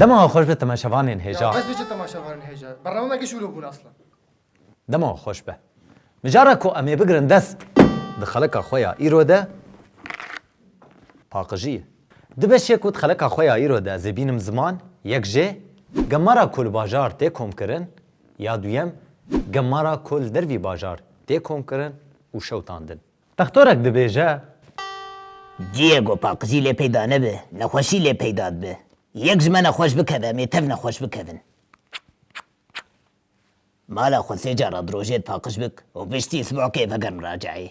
Dema xweş be temaşevanên hêja. Ez biçe temaşevanên hêja. Bernameke şûro bûn aslan. Dema xweş be. Mijara ku em ê bigirin dest di xeleka xwe ya îro de paqijî ye. Di beşê ku di xeleka xwe ya îro de ez ê bînim ziman, yek jê, gemara ku li bajar tê komkirin, Ya duyem, gemara ku li dervî bajar tê komkirin û şewtandin. Textorek dibêje. Ciyê ku paqijî lê peyda nebe, nexweşî lê peyda dibe. Yek ji me nexweş bikeve em ê tev nexweş bikevin. Mala xwe sê caran di rojê di paqij bik û piştî sibehkê vegerm raceyê.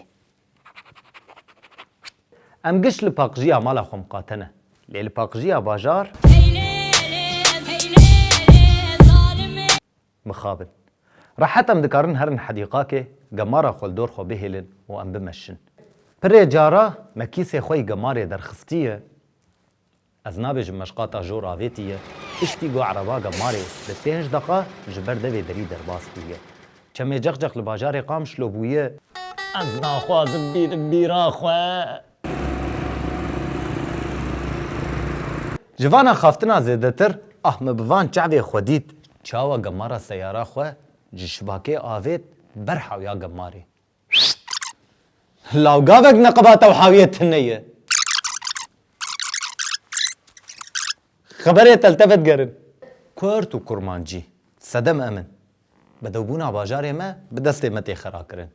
Em giş li paqjiya mala xwe miqate ne. Lê li paqjiya bajar mixabin. Rehet em dikarin herin hedîqakê, gemara xwe li dor xwe bihêlin û em bimeşin. Pirê cara me kîsê xwe yî gemarê derxistiye. Ez nabêjim meşqata jor avêtî ye, piştî got Erebaga Marê bi pênc deqa ji ber devê derî derbas bûye. Çemê Cexcex li bajarê Qamişlo bûye. Ez naxwazim bînim bîra xwe. Ji vana xaftina zêdetir ah min bi van çavê xwe dît. Çawa gemara seyara xwe ji şibakê avêt ber hewya gemarê. Law gavek neqeba tewhawiyê tune ye. Xeberê teltefe digerin. Kurd û kurmancî sedem em in. Bedewbûna bajarê me bi destê me tê xerakirin.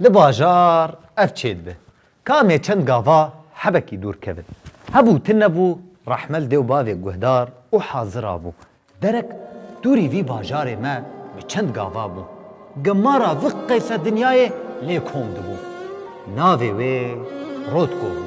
Li bajar ev çê dibe. Kamê çend gava hebekî dûr kevin. Hebû ti nebû rehmel dê û bavê guhdar û hazira bû. Derek dûrî vî bajarê me bi çend gava bû. Gemara vi qeyse dinyayê lê kom dibû. Navê wê Rotko bû.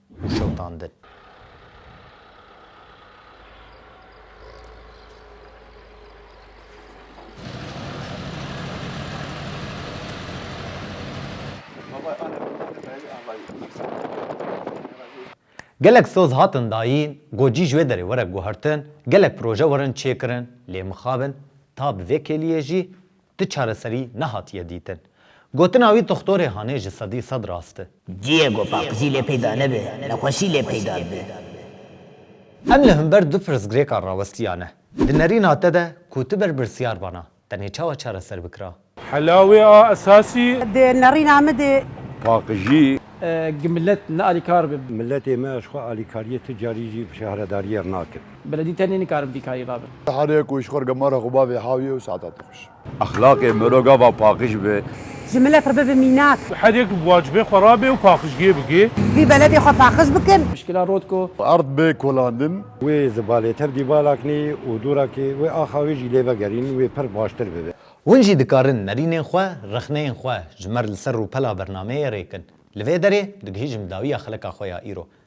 û şewitandin. Gelek soz hatin dayîn, gocî ji wê derê were guhertin, gelek proje werin çêkirin lê mixabin ta bi vê kêliyê jî Ti çareserî nehatiye dîtin. Gotina wî doxtorê Hanê ji sedî sed rast e. Ciyê ku paqijî lê peyda nebe, nexweşî lê peyda dibe. Em li himber du pirsgirêkan rawestiyane. Di nerîna te de ku ti berpirsyar bana, tenê çawa çareser bikira? Hela wê a esasî. Di nerîna min de. Paqijî. Gi milet nealîkar be. Miletê me ji xwe alîkariyê tu carî jî şehredariyê re nakin. Beledî tenê nikarin vî karî rabin. Harê ku îşxor gemara xwe bavê hawiyê û saeta te xweş. Exlaqê miro gava paqij be. Ji milê xwe bibe mînak. Herê ku bi wacibê xwe rabê û paqijgê bike. Vî beledê xwe paqij bikin. Pişkila rotko. Erd be kolandin. Wê zibalê tev dîvala kinî û dûra kî wê axa wê jî lê vegerîn wê pir baştir bibe. Hûn jî dikarin nerînên xwe, rexneyên xwe ji me re li ser rûpela bernameyê rê kin. Li vê derê digihîjim dawiya xelika xwe ya îro.